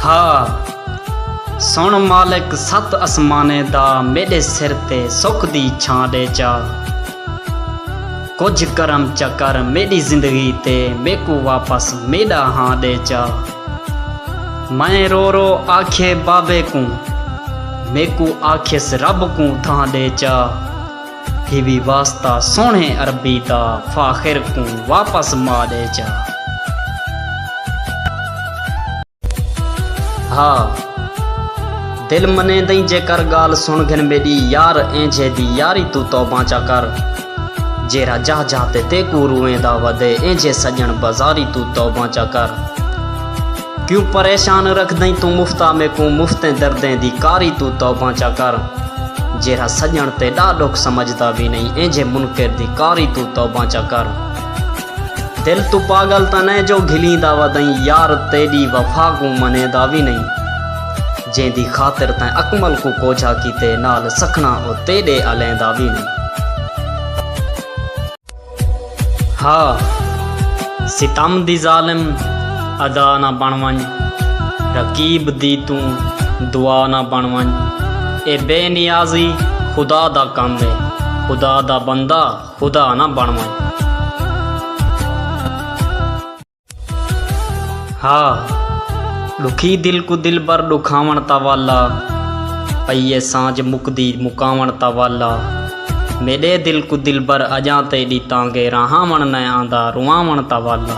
ہا سݨ مالک ست اسمانیں دا میݙے سر تے سکھ دی چھاں ݙے چا کجھ کرم چا کر میݙی زندگی تے میکوں واپس میݙا ہاں ݙے چا میں رو رو آکھیے بابے کوں میکوں آکھیس رب کوں تھاں ݙے چا۔ تھیوی واسطہ سوہݨے عربی دا فاخر کوں واپس ما ݙے جا ہا دل منے دئیں جے کر گال سن گھن میڈی یار اینجھے دی یاری تو توباں چا کر جیرا جاہ جاہ تے تیکو روئیں دا ودے اینجھے سجن بازاری تو توباں چا کر کیوں پریشان رکھدئیں توں مفتا میکوں مفتیں دردیں دی کاری توں توباں چا کر جیرھا سڄݨ تیݙا ݙکھ سمجھدا وی نئیں اینجھے منکر دی کاری توں توباں چا کر دل توں پاڳل تاں نئیں جو گھلیندا ودئیں یار تیݙی وفا کوں منیندا وی نئیں جیندی خاطر تیں اکمل کوں کوجھا کیتے نال سکھݨا او تیݙے الیندا وی نئیں۔ ہا ستم دی ظالم ادا نہ بݨ ونڄ رقیب دی توں دعا نہ بݨ ونڄ اے بے نیازی خدا دا کم اے خدا دا بندہ خدا نہ بݨ ونڄ۔ ہا ݙکھی دل کوں دلبر ݙکھاوݨ تاں والا پئی اے سانجھ مکدی مکاوݨ تاں والا میݙے دل کوں دلبر اڄاں تیݙی تانگے رہاوݨ نئیں آندا رواوݨ تاں والا۔